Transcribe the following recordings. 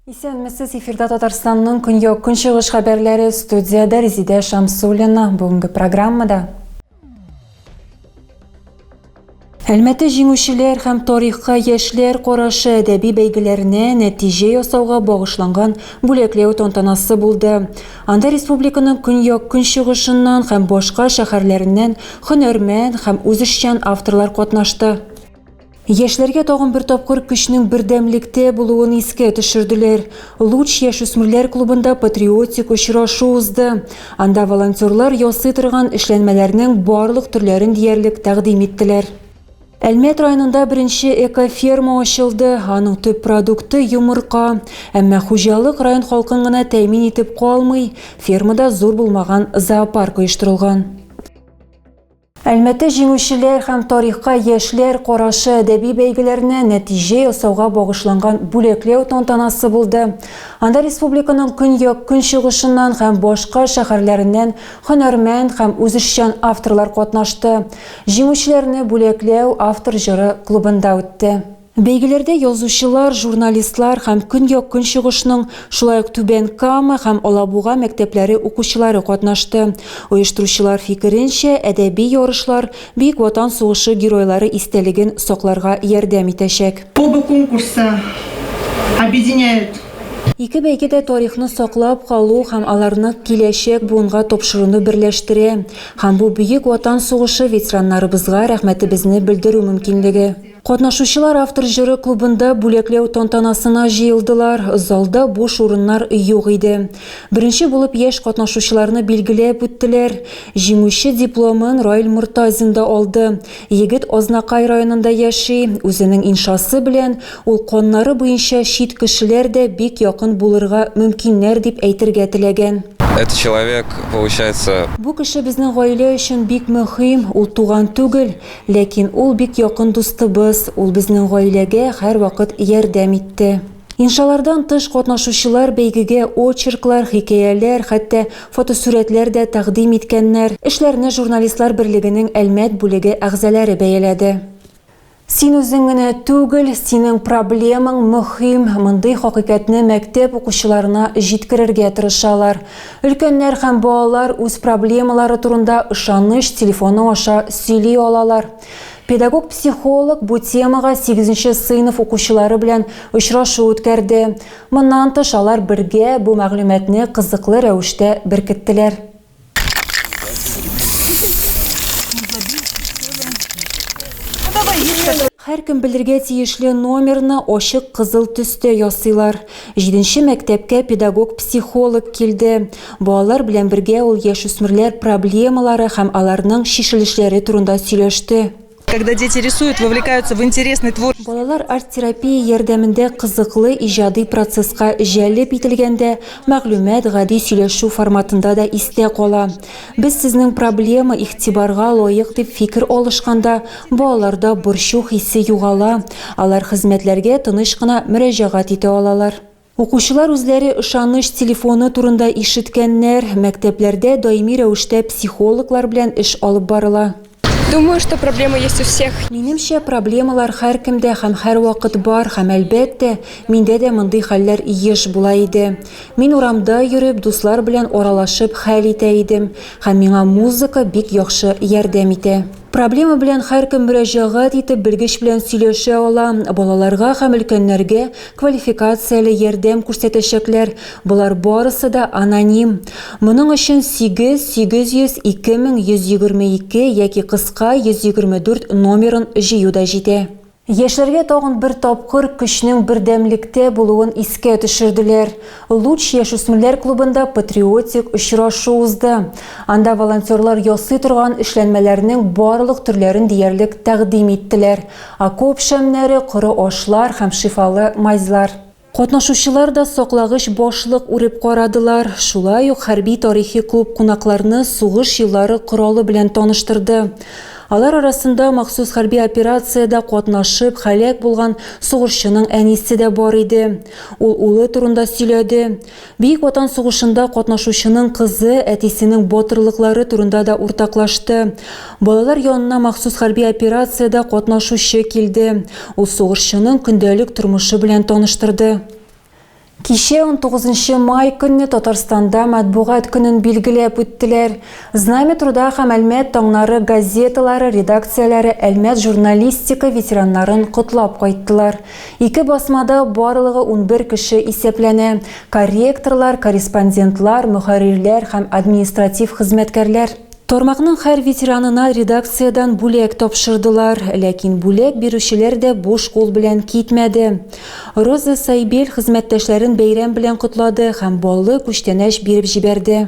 Исәнмесез, эфирда Татарстанның көньяк-көнчыгыш хәбәрләре студиядә Резидә Шамсуллина. Бүгенге программада Әлмәте җиңүчеләр һәм тарихка яшьләр карашы әдәби бәйгеләренә нәтиҗә ясауга багышланган бүләкләү тантанасы булды. Анда республиканың көньяк-көнчыгышыннан һәм башка шәһәрләреннән һөнәрмән һәм үзешчән авторлар катнашты. Яшьләргә тагын бер тапкыр көчнең бердәмлектә булуын искә төшерделәр. Луч яшүсмерләр клубында патриотик очрашу узды. Анда волонтерлар ясый торган эшләнмәләрнең барлык төрләрен диярлек тәкъдим иттеләр. Әлмәт районында беренче экоферма ачылды, аның төп продукты, йомырка. Әмма хуҗалык район халкын гына тәэмин итеп калмый, фермада зур булмаган зоопарк оештырылган. Әлмәте җиңүчеләр һәм тарихка яшьләр карашы әдәби бәйгеләренә нәтиҗә ясауга багышланган бүләкләү тантанасы булды. Анда республиканың көньяк, көнчыгышыннан һәм башка шәһәрләреннән һөнәрмәнд һәм үзешчән авторлар катнашты. Җиңүчеләрне бүләкләү Автор җыры клубында үтте. Бәйгеләрдә язучылар, журналистлар һәм Көньяк-Көнчыгышның, шулай ук Түбән Кама һәм Алабуга мәктәпләре укучылары катнашты. Оештыручылар фикеренчә, әдәби ярышлар Бөек Ватан сугышы геройлары истәлеген сакларга ярдәм итәчәк. Оба конкурса объединяют. Ике бәйге дә тарихны саклап калу һәм аларны киләчәк буынга тапшыруны берләштерә һәм бу Бөек Ватан сугышы ветераннарыбызга рәхмәтебезне белдерү мөмкинлеге. Катнашучылар автор җыры клубында бүләкләү тантанасына җыелдылар. Залда буш урыннар юк иде. Беренче булып яшь катнашучыларны билгеләп үттеләр. Җиңүче дипломын Раил Мортазин да алды. Егет Азнакай районында яши. Үзенең иншасы белән ул каннары буенча чит кешеләр дә бик якын булырга мөмкиннәр дип әйтергә теләгән. Этот человек получается. Бу кеше безнең гаилә өчен бик мөһим, ул туган түгел. Ләкин ул бик якын дустыбыз, ул безнең гаиләгә һәрвакыт ярдәм итте. Иншалардан тыш, катнашучылар бәйгегә очерклар, хикәяләр, хәтта фотосурәтләр дә тәкъдим иткәннәр. Эшләрне Журналистлар берлегенең Әлмәт бүлеге әгъзаләре бәяләде. Син үзең генә түгел, синең проблемаң мөһим, мондый хакыйкатьне мәктәп укучыларына җиткерергә тырышалар. Өлкәннәр һәм балалар үз проблемалары турында ышаныч телефоны аша сөйли алалар. Педагог-психолог бу темага 8 нче сыйныф укучылары белән очрашу үткәрде. Моннан тыш алар бергә бу мәгълүматны кызыклы рәвештә беркеттеләр. Һәркем белергә тиешле номерны ачык кызыл төстә ясыйлар. Җиденче мәктәпкә педагог-психолог килде. Балалар белән бергә ул яшүсмерләр проблемалары һәм аларның чишелешләре турында сөйләште. Когда дети рисуют, вовлекаются в интересный твор. Балалар арт-терапия ярдәмендә кызыклы иҗади процесска җәлеп ителгәндә, мәгълүмат гади сөйләшү форматында да истә кала. Без сезнең проблема игътибарга лаек дип фикер алышканда, балаларда борчу хисе югала, алар хезмәтләргә тыныч кына мөрәҗәгать итә алалар. Укучылар үзләре ышаныч телефоны турында ишеткәннәр, мәктәпләрдә даими рәвештә психологлар белән эш алып барыла. Думаю, что проблема есть у всех. Минемчә, проблемалар һәркемдә һәм һәрвакыт бар һәм, әлбәттә, миндә дә мондый хәлләр еш була иде. Мин урамда йөреп, дуслар белән аралашып хәл итә идем һәм миңа музыка бик яхшы ярдәм итә. Проблема белән һәркем мөрәҗәгать итеп, белгеч белән сөйләшә ала, балаларга һәм өлкәннәргә Квалификацияле ярдәм күрсәтәчәкләр, болар барысы да аноним. Моның өчен 8 800 2122 яки кыска 124 номерын җыю да җитә. Яшьләргә тагын бер тапкыр көчнең бердәмлектә булуын искә төшерделәр. Луч яшүсмерләр клубында патриотик очрашу узды. Анда волонтерлар ясый торган эшләнмәләрнең барлык төрләрен диярлек тәкъдим иттеләр. Окоп шәмнәре, коры ашлар һәм шифалы мазьлар. Катнашучылар да саклагыч башлык үреп карадылар. Шулай ук хәрби-тарихи клуб кунакларны сугыш еллары коралы белән таныштырды. Алар арасында махсус хәрби операциядә катнашып, һәлак булган сугышчының әнисе дә бар иде. Ул улы турында сөйләде. Бөек Ватан сугышында катнашучының кызы әтисенең батырлыклары турында да уртаклашты. Балалар янына махсус хәрби операциядә катнашучы килде. Ул сугышчының көндәлек тормышы белән таныштырды. Кичә, 19 май көнне Татарстанда Матбугат көнен билгеләп үттеләр. Знамя труда һәм Әлмәт таңнары газеталары редакцияләре Әлмәт журналистика ветераннарын котлап кайттылар. Ике басмада барлыгы унбер кеше исәпләнә, корректорлар, корреспондентлар, мөхәррирләр һәм административ хезмәткәрләр. Тармакның һәр ветеранына редакциядән бүләк тапшырдылар, ләкин бүләк бирүчеләр дә буш кул белән китмәде. Роза Сайбель хезмәттәшләрен бәйрәм белән котлады һәм баллы күчтәнәч биреп җибәрде.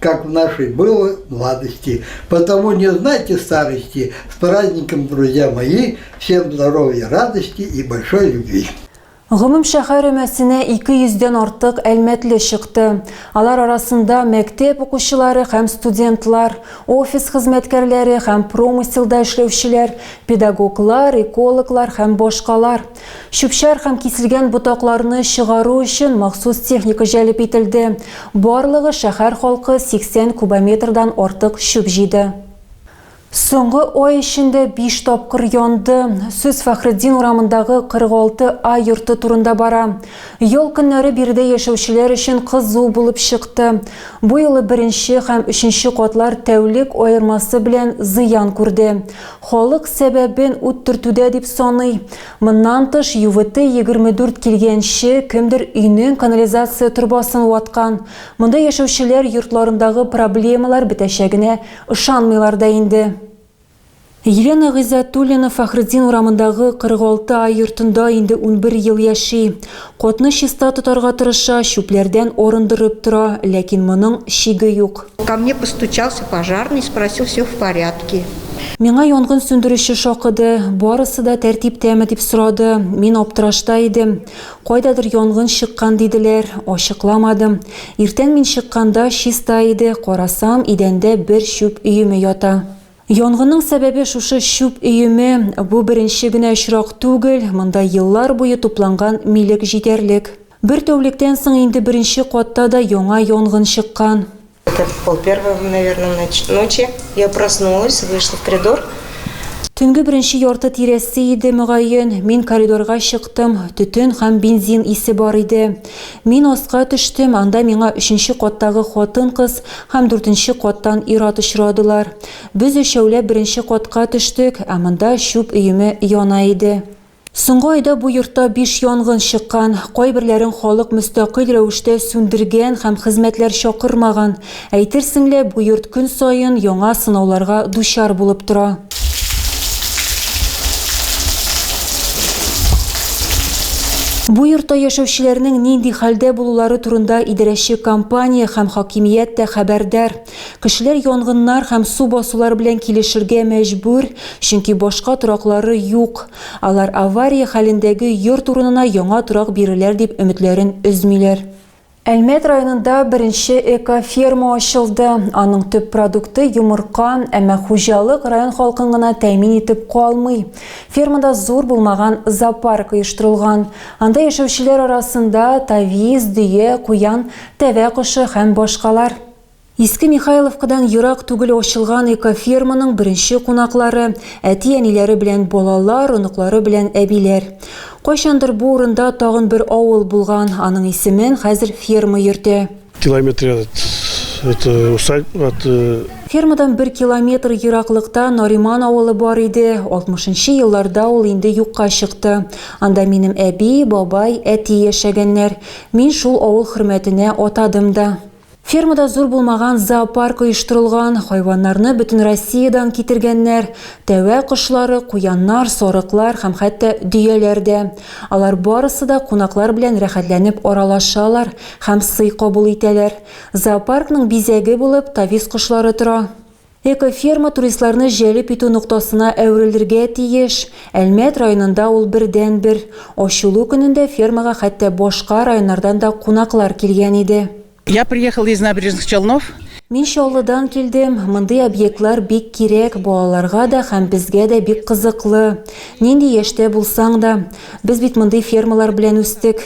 как в нашей было младости. Потому не знайте старости. С праздником, друзья мои! Всем здоровья, радости и большой любви! Гомум шәһәр өмәсенә 200 дән артык әлмәтле чыкты. Алар арасында мәктәп укучылары һәм студентлар, офис хезмәткәрләре һәм промыселда эшләүчеләр, педагоглар, экологлар һәм башкалар. Чүпчәр һәм киселгән ботакларны чыгару өчен махсус техника җәлеп ителде. Барлыгы шәһәр халкы 80 кубометрдан артык чүп җыйды. Соңгы ай эчендә биш тапкыр янды. Сүз Фәхретдин урамындагы 46 А йорты турында бара. Ял көннәре биредә яшәүчеләр өчен кызу булып чыкты. Бу юлы беренче һәм өченче катлар тәүлек аермасы белән зыян күрде. Халык сәбәбен ут төртүдә дип саный. Моннан тыш, ЮВТ-24 килгәнче, кемдер өйнең канализация торбасын ваткан. Монда яшәүчеләр йортларындагы проблемалар бетәчәгенә ышанмыйлар да инде. Елена Гыйззәтуллина Фәхретдин урамындагы 46 А йортында инде унбер ел яши. Котны чиста тотарга тырыша, чүпләрдән арындырып тора, ләкин моның чиге юк. Ко мне постучался пожарный, спросил, все в порядке. Миңа янгын сүндерүче шакыды, барысы да тәртиптәме дип сорады. Мин аптырашта идем. Кайдадыр янгын чыккан диделәр, ачыкламадым. Иртән мин чыкканда чиста иде, карасам, идәндә бер чүп өеме ята. Янгынның сәбәбе шушы чүп өеме. Бу беренче генә очрак түгел, монда еллар буе тупланган милек җитәрлек. Бер тәүлектән соң инде беренче катта да яңа янгын чыккан. Төнге беренче ярты тирәсе иде, мөгаен, мин коридорга чыктым, төтен һәм бензин исе бар иде. Мин аска төштем, анда миңа өченче каттагы хатын-кыз һәм дүртенче каттан ир-ат очрадылар. Без өчәүләп беренче катка төштек, ә монда чүп өеме яна иде. Соңгы айда бу йортта биш янгын чыккан, кайберләрен халык мөстәкыйль рәвештә сүндергән һәм хезмәтләр чакырмаган. Әйтерсең лә, бу йорт көн саен яңа сынауларга дучар булып тора. Бу йортта яшәүчеләрнең нинди хәлдә булулары турында идарәче компания һәм хакимият тә хәбәрдар. Кешеләр янгыннар һәм су басулар белән килешергә мәҗбүр, чөнки башка тораклары юк. Алар авария хәлендәге йорт урынына яңа торак бирерләр дип өметләрен өзмиләр. Әлмәт районында беренче эко-ферма ачылды. Аның төп продукты йомырка, әмма хуҗалык район халкын гына тәэмин итеп калмый. Фермада зур булмаган зоопарк оештырылган. Анда яшәүчеләр арасында тавис, дөя, куян, тәвә кошы һәм башкалар. Иске Михайловкадан ерак түгел ачылган экоферманың беренче кунаклары, әти-әниләре белән балалар, оныклары белән әбиләр. Кайчандыр бу урында тагын бер авыл булган, аның исемен хәзер ферма йөртә. Километре от это усадьб от э, Фермадан бер километр ераклыкта Нариман авылы бар иде, 60 нчы елларда ул инде юкка чыкты. Анда минем әби, бабай, әти яшәгәннәр. Мин шул авыл хөрмәтенә атадым да. Фермада зур булмаган зоопарк оештырылган, хайваннарны бөтен Россиядән китергәннәр, тәвә кошлары, куяннар, сарыклар һәм хәтта дөяләр дә. Алар барысы да кунаклар белән рәхәтләнеп аралашалар һәм сый кабул итәләр. Зоопаркның бизәге булып тавис кошлары тора. Экоферма туристларны җәлеп итү ноктасына әверелергә тиеш. Әлмәт районында ул бердәнбер. Ачылу көнендә фермага хәтта башка районнардан да кунаклар килгән иде. Я приехал из Набережных Челнов. Мин Чаллыдан килдем. Мондый объектлар бик кирәк, балаларга да һәм безгә дә бик кызыклы. Нинди яшьтә булсаң да. Без бит мондый фермалар белән үстек.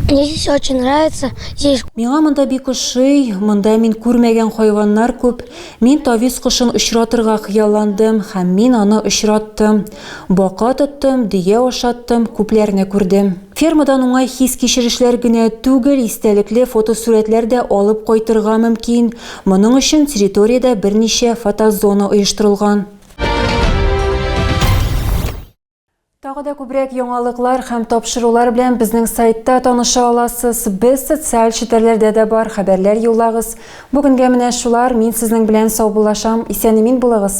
Мне здесь очень нравится. Здесь Миңа монда бик ошый, монда мин күрмәгән хайваннар күп. Мин тавис кошын очратырга хыялландым һәм мин аны очраттым. Бака тоттым, дөя ашаттым, күпләрне күрдем. Фермадан уңай хис-кичерешләр генә түгел, истәлекле фотосурәтләр дә алып кайтырга мөмкин. Моның өчен территориядә берничә фотозона оештырылган. Тагы да күбрәк яңалыклар һәм тапшырулар белән безнең сайтта таныша аласыз. Без социаль челтәрләрдә дә бар, хәбәрләр юллагыз. Бүгенгә менә шулар, мин сезнең белән саубуллашам. Исән-имин булыгыз!